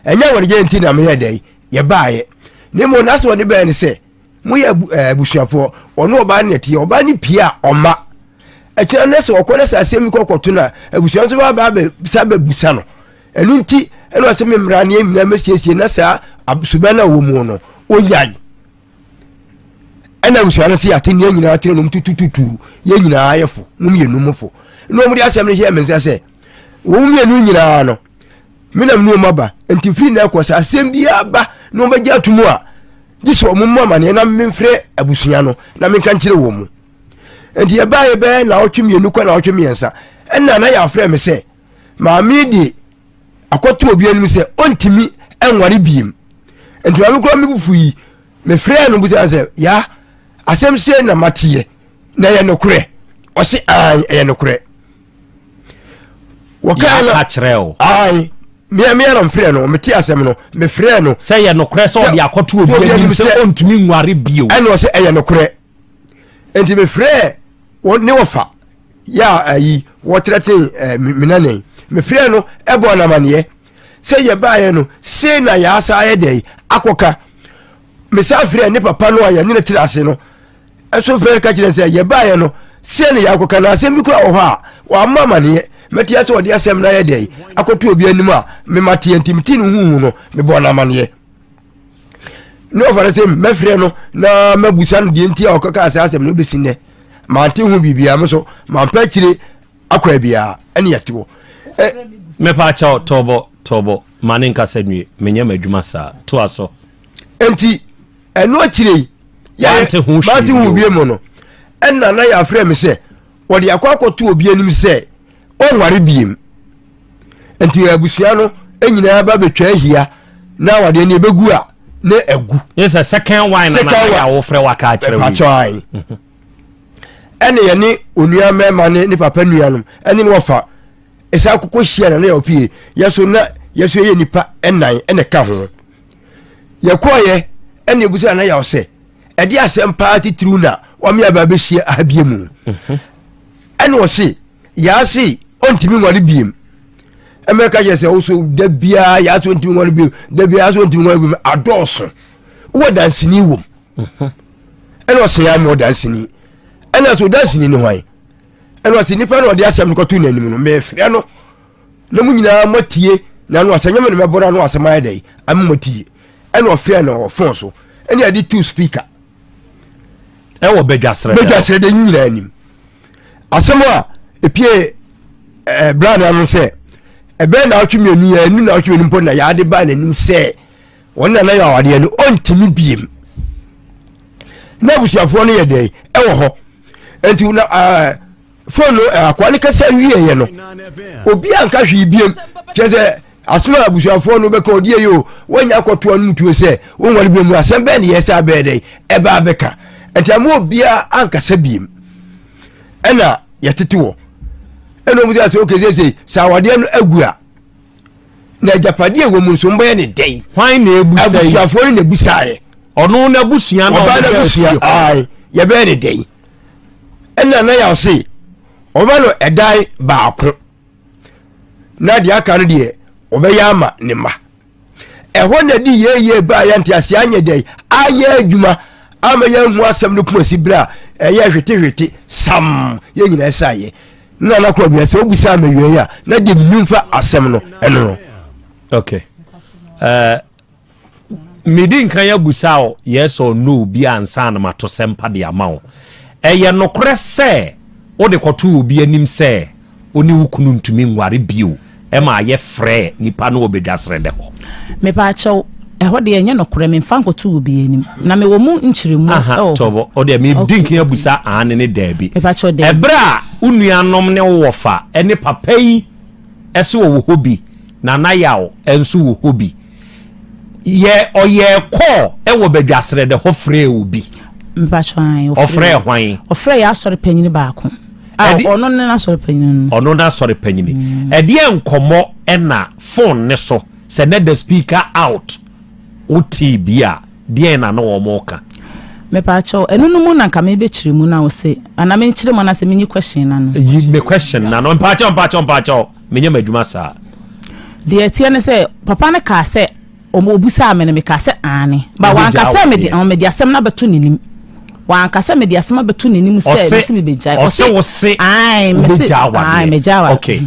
ɛnyɛ wɔn yɛ nti na meyɛ dɛ yɛbaayɛ ne mu na sɛ wɔde bɛyɛ ne sɛ moyɛ eh, abusuafoɔ ɔne ɔbaa ne teɛ ɔbaa ne pie a ɔma ɛkyerɛ no sɛ ɔkɔ no sɛ asɛm bi kɔkɔto no a abusua nso bɛba bɛsa bɛbusa no ɛno nti ɛna ɔsɛ me mmara ne nyinaa mɛsiesie na saa suba no a wɔ mu no ɔnyae ɛna abusua no sɛ yɛate nneɛ nyinaa kyerɛ nom tutututu yɛ nyinaa yɛfo nom yɛnum fo na ɔmode asɛm no hyɛ me nsa sɛ wɔn mmienu nyinaa no menam ne ɔma ba nti firi na ɛkɔ sɛ asɛm biara ba na ɔbɛgye ato mu a gye sɛ ɔmo mu amaneɛ na memfrɛ abusua no na menka nkyerɛ wɔ mu nti yɛbaeɛ bɛyɛ na ɔtwe mmienu kɔ na ɔtwe mmiɛnsa ɛna na yɛafrɛ me sɛ maame de akɔto obi anim sɛ ɔntumi nware biem nti maame kora mebufu yi mefrɛɛ no busa sɛ ya asɛm sɛ na mateɛ na ɛyɛ nokorɛ ɔse an ɛyɛ nokorɛ wɔkae na kyerɛ o ae mea mea na mfrɛ no mete asɛm no mefrɛ no sɛ yɛ nokorɛ sɛ ɔde akɔto obi anim sɛ ɔntumi nware bio ɛne ɔsɛ ɛyɛ nokorɛ nti mefrɛ ne wɔfa yɛ ayi wɔtrɛten eh, menanɛn mefrɛ no ɛbɔ namaneɛ sɛ yɛbaeɛ no sei na yɛasa ayɛ dɛn akɔka mesan frɛɛ ne papa no a yɛne no tena ase no nso frɛ no ka kyerɛ sɛ yɛbaeɛ no sɛ ne yɛakɔka no asɛm bi kora wɔ hɔ a wɔamma amaneɛ mɛteɛ sɛ ɔde asɛm no ayɛ dɛn akɔto obi anim a mema teɛ nti mete no huhu no mebɔɔ no amaneɛ ne ɔfa no sɛ mɛfrɛ no na mabusa no deɛ nti a ɔkɔka asɛ asɛm no bɛsi nnɛ mante ho biribiaa me so mampɛ akyire akɔ abia ɛne yɛte hɔ mepa kyɛw tɔbɔ tɔbɔ ma ne nkasa nwie menyɛ m'adwuma saa to aso nti ɛno akyire yi yɛante ho hwee ho bie mu no ɛna na yɛafrɛ me sɛ wɔde akɔ akɔto obi anim sɛ ɔnware biem nti abusua no nyinaa ba bɛtwa ahia na wɔde ɛne ɛbɛgu a ne agu ne sɛ second wine na na yɛawofrɛ waka akyerɛ wi ɛne yɛne onua mmarima ne ne papa nuanom ɛne ne wɔfa ɛsan koko hyia na ne yɛ opie yɛ so na yɛ so yɛ nipa ɛnan ɛna ka ho yɛkɔɔyɛ ɛne ebusa na yɛ ɔsɛ ɛde asɛm paa titiriw na wɔn yɛ aba abɛhyia abie mu mhm. ɛne ɔse yaase ɔntumi nware biem ɛmɛka yɛ sɛ woso da biara yaase ɔntumi nware biem da biara yaase ɔntumi nware biem adɔɔso wɔ dansini wom. Mhm. ɛna ɔsɛ yɛ ama ɔdanseni ɛna sɛ ɔdanseni ne hwan ɛna ɔsɛ nipa na ɔde asɛm no kɔto n'anim no mɛfrɛ no na mu nyinaa moatie na no asɛ nyɛme no mɛbɔra no asɛm ayɛ dɛn ama moatie ɛna ɔfrɛ no ɔfon so ɛne ade two speaker ɛwɔ badwasrɛ badwasrɛ dɛ nyinaa anim asɛm a ɛpie eh, bra no ano sɛ ɛbɛyɛ na atwe mmienu yɛ ɛnu na atwe mmienu mpo na yɛade ba n'anim sɛ wɔn na na yɛ awadeɛ no ɔntumi biem na abusuafoɔ no yɛ dɛn ɛwɔ hɔ nti na ɛɛ fone no akoa no kasa wie yɛ no obi anka hwee biem kyerɛ sɛ asoma abusuafoɔ no bɛka ɔdeɛ yi o wɔnya akɔtoa no mutuo sɛ wɔnwale biem no asɛm bɛɛ ne yɛ sɛ abɛɛ dɛn ɛbaa bɛka nti ama obiara ankasa biem ɛna yɛtete wɔ ɛna ɔmu sɛ sɛ okese sɛ sɛ awadeɛ no agu a na agyapadeɛ a ɛwɔ mu nso mobɛyɛ ne dɛn hwan na ɛbu sɛ abusuafoɔ no na ɛbu saeɛ ɔno n'abusua na ɔbaa n'abusua ae yɛbɛyɛ ne dɛn ɛna na yɛaw se ɔbɛ no ɛdan baako na deɛ aka no deɛ ɔbɛyɛ ama ne mma ɛhɔ na di yɛyɛ baa yɛ nte aseɛ anyɛ dɛn anyɛ adwuma ama yɛahu asɛm no poma si berɛ a ɛyɛ hwetehwete sam yɛ nyinaa saeɛ na na kɔ bia sɛ wobisa ama wiei a na de mmemfa asɛm no ɛno no okay uh, medi nka yɛ busa o yes or no bi ansa na mato sɛmpa de ama wo ɛyɛ nokorɛ sɛ wode kɔto obi anim sɛ wo ne wo kunu ntumi nware bio ɛmaa yɛfrɛɛ nnipa no wɔ Badwa Serɛndɛ hɔ. Mepaakyɛw, ɛhɔ deɛ ɛnyɛ nokorɛ, memfa nkɔto obiara anim, na mewɔ mu nkyerɛmu wɔ hɔ. Tɔbɔ, O deɛ medi nkan abusa aane ne daabi. Mepaakyɛw, daabi. Ɛberɛ a wo nuanom ne wo wɔfa ne papa yi se wɔwɔ hɔ bi, Nana Yaw nso wɔ hɔ bi. Yɛ ɔyɛɛ kɔɔ ɛwɔ bɛ dwasrɛ dɛ hɔ frɛɛ obi. Mpatsɔ an ɔfrɛɛ. Ɔfrɛɛ hwan? Ɔfrɛɛ yɛ asɔre panyin baako. A ɔno ne n'asɔre panyin no. Ɔno n'asɔre panyin. Mm. Ɛdeɛ nkɔmɔ ɛna phone ne so sɛ na the speaker out wotee bi a deɛn na na wɔn ka. Mepaakyɛw ɛno no mu na nka mebɛkyerɛ mu na wo se ana menkyerɛ mu anaasɛ menyi question na no. Yi me question na no mpaakyɛw mpaakyɛw mpaakyɛw. Menyɛ m'adwuma saa. Deɛ ɛteɛ ne sɛ, papa no kaa sɛ, ɔbisaa me no, mekaa sɛ, Aane. But wanka sɛ mede, ɔn, mede asɛm no abɛto n'anim. Wanka sɛ mede asɛm abɛto n'anim sɛ, Ɔse, mese mebɛgyae. ɔse wo se Aane, mese, wobɛgya awadeɛ. Aane, mɛgya awadeɛ. Okay.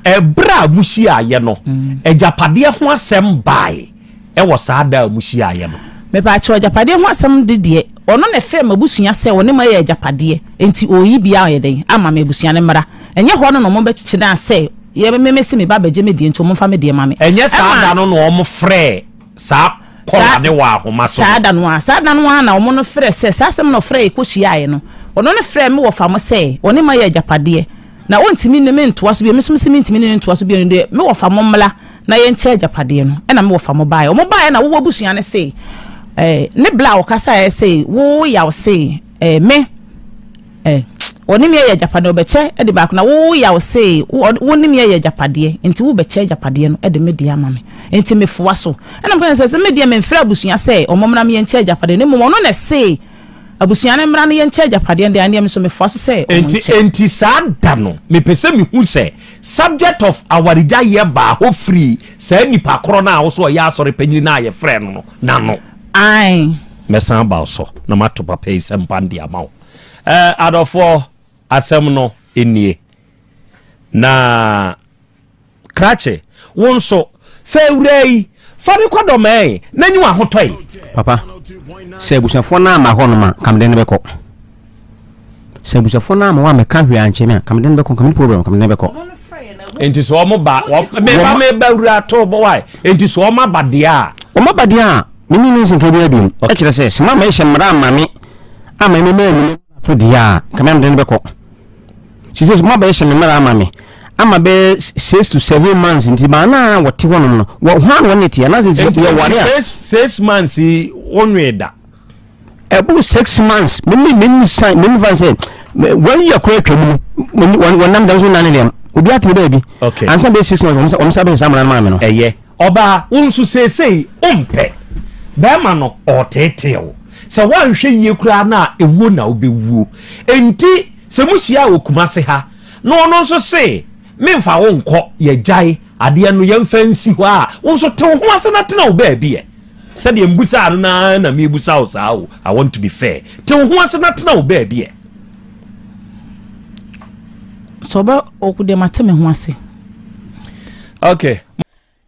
Ɛberɛ a mohyiaeɛ no, agyapadeɛ ho asɛm baae. wɔ saa da a muhyiaeɛ no. Mepaakyɛw agyapadeɛ ho asɛm de deɛ, ɔno na ɛfrɛɛ m'abusua sɛ ɔne mo ayɛ agyapadeɛ, enti ɔreyi bea ayɛ dɛn ama me abusua no mmra, ɛnyɛ hɔ no na ɔmo bɛkyena sɛ yɛ me mese me ba abɛgye me deɛ nti ɔmo mfa me deɛ ma me. Ɛnyɛ saa da no na ɔmo frɛɛ saa kɔla no wɔ ahoma so no? Saa da no ara, saa da no ara na ɔmo no frɛ sɛ, saa asɛm na ɔfrɛɛ yɛ kɔhyiaeɛ no, ɔno no frɛɛ me wɔ fa mo sɛ ɔne mo ayɛ agyapadeɛ, na ɔntumi ne me ntoa so bio, me nso mese mentumi ne no ntoa so bio, ɛno deɛ me wɔ fa mo mmra. na yɛnkyɛ agyapadeɛ no, ɛna me wɔfa mo baeɛ. Wɔn baeɛ na woɔ abusua no se, eh, ne bla a ɔkasaeɛ se, wo yaw se, eh, me, eh, ɔne me ayɛ agyapadeɛ, ɔbɛkyɛ de baako, na wo yaw se, wo ne me ayɛ agyapadeɛ, nti wobɛkyɛ agyapadeɛ no de me deɛ ama me. Nti mefoa so. Ɛna mekasa sɛ, sɛ me deɛ memfrɛ abusua sɛ wɔn mmra me yɛnkyɛ agyapadeɛ, na mmom ɔno na ɛse, Abusua no mmra no yɛnkyɛ agyapadeɛ no deɛ ɛnneɛ me nso mefoa so sɛ wɔn nkyɛ. Enti enti saa da no mepɛ sɛ mehu sɛ subject of awaregyaeɛ baa hɔ firii saa nipa korɔ no a wo so ɔyɛ asɔre panyini no a yɛfrɛɛ no no n'ano. Ae. Mɛsan aba wo so na mato papa yi sɛ mpan de ama wo. Eh, adɔfoɔ asɛm no nie na. Krakye, wo nso, fa awuraa yi, fa no kɔ dɔmɛɛn na nyi w'ahotɔe. Papa, sɛ abusuafoɔ no amma hɔnom a, nka mede no bɛkɔ. Sɛ abusuafoɔ no amma hɔ a, mɛka hwee ankyɛ me a, nka mede no bɛkɔ, nka menni problem, nka mede no bɛkɔ. Enti sɛ wɔn ba, meba meba awura to bɔ wae, enti sɛ wɔn aba deɛ a. Wɔn aba deɛ a, menni ne nsɛnka bi abiom. Ɔka kyerɛ sɛ, sɛ moamma yɛhyɛ mmara amma me, amma me maa mu ne to deɛ a, nka me ara mede no bɛkɔ. She says, Mo abɛyɛ hyɛ me mmara ama me ama bɛyɛ six to seven months nti baa naa wɔte hɔnom no wɔ hɔn a wɔn ne te anaasɛ sɛ yɛ wɔre a. six six months yi wɔn nwee da. ɛboro six months mene mene san mene fan sɛ wɔn yɛ kora atwa mu no wɔn nam dan so nane dɛm obi atene baabi ansa bɛyɛ six months wɔn sa bɛyɛ saa mmerɛ no maa me no. ɛyɛ Ɔbaa, wo nso seesei wompɛ barima no, ɔreteetee wo. Sɛ woanhwɛ yie koraa no a, ewuo na wobɛwuo. Enti sɛ mohyiaa wɔ Kumase ha na ɔno nso se memfa wo nkɔ, yɛagyae adeɛ no, yɛmfa nsi hɔ a, wo nso te wo ho ase na tena wo baabi ɛ. Sɛdeɛ mbusaa no no ara na merebisa wo saa o, I want to be fair. Te wo ho ase na tena wo baabi ɛ. Sɛ ɔbɛ, ɔku deɛ mate me ho ase. Okay.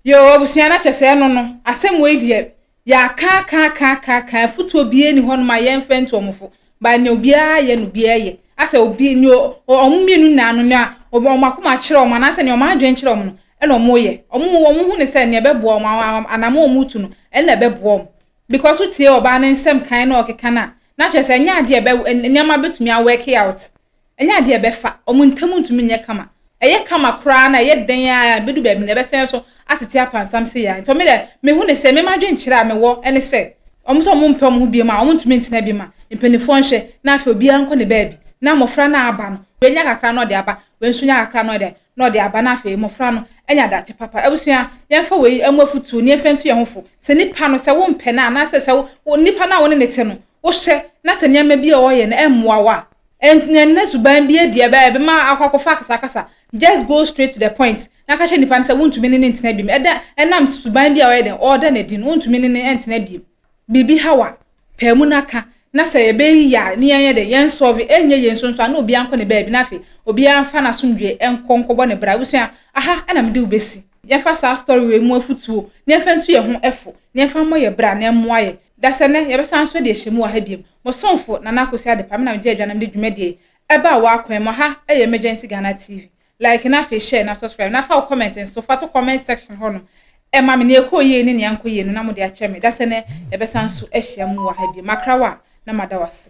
Yoo abusua na kyɛsɛ ɛno no asɛm wei deɛ yɛakaakaakaakaakaa afutuo biaa ni hɔ nom a yɛmfɛ nto ɔmofo ba nea obiaa yɛ no obiaa yɛ asɛ obi nea ɔmo mmienu nyinaa no nea ɔmo akoma akyerɛ ɔmo anaasɛ nea ɔmo adwene kyerɛ ɔmo no ɛna ɔmo yɛ ɔmo ɔmo hu ne sɛ nea ɛbɛboa ɔmo anam ɔmo retu no ɛna ɛbɛboa ɔmo because wotie ɔbaa ne nsɛm kan na ɔkeka no a na kyerɛ sɛ ɛnyɛ adeɛ ɛbɛ nneɛma bɛtumi awɛke out Ɛnyɛ adeɛ a ɛbɛfa wɔn ntam ntumi nyɛ kama. Ɛyɛ kama koraa na ɛyɛ dɛn ara a, ɛbɛdu baabi no, ɛbɛsan nso atete apansam sei ara. Nti me deɛ, mehu no sɛ, me ma adwenkyerɛ a mewɔ ne sɛ, wɔn sɛ wɔmpɛ wɔn ho biom a, wɔntumi ntena bi ma mpanimfoɔ nhwɛ na afei obiara nkɔ ne baabi na mmɔfra no aba no, wei nya kakra na ɔde aba, wei nso nya kakra na ɔyɛ dɛn, na ɔde aba na afei mmɔfra no anya daakye papa. Abusua, yɛmfa wei mmɔ afutuo na yɛmfa ntu yɛn ho fo. Sɛ nipa no, sɛ wompɛ no a, anaasɛ sɛ wo, wo, nipa no a wo ne no te no, wohyɛ na sɛ nneɛma bi a wɔyɛ no mmoa wo a, ɛnyɛ nna suban bi adi ɛbɛ ɛbɛma akɔ akɔfa akasakasa. Just go straight to the point na ka kyerɛ nipa no sɛ wontumi ne no ntena biom. Ɛda ɛnam suban bi a ɔyɛ dɛn ɔreda no adi no wontumi ne no ntena biom. Biribi haw a, pae mu na ka na sɛ ɛbɛyɛ yie a ne yɛnyɛ dɛn yɛnsɔlve. Ɛnyɛ yie nso nso a na obiara nkɔ ne baabi na afei obiara mfa n'asomdwoe nkɔ nkɔbɔ ne bra. Abusua, aha na mede wo besi. Yɛmfa saa story wei mu afutuo na yɛmfa ntu yɛn ho fo, na yɛmfa mmɔ yɛn bra na ɛmmoa yɛn. Dasɛ nnɛ, yɛbɛsan nso de ahyɛmu wɔ ha biom. Mo somfo, Nana Akosua Adepa, me na megye Agyanom de dwumadie yi ɛbaa wo akwan mu. Ha yɛ Emergency Ghana TV. Like na afei share na subscribe, na fa wo comment nso fa to comment section hɔ nom ɛma me, nea ɛkɔɔ yie ne nea ankɔ yie no na mode akyɛ me. Dasɛ nnɛ, yɛbɛsan nso ahyia mu wɔ ha biom. Makra wo a, na mada wo ase.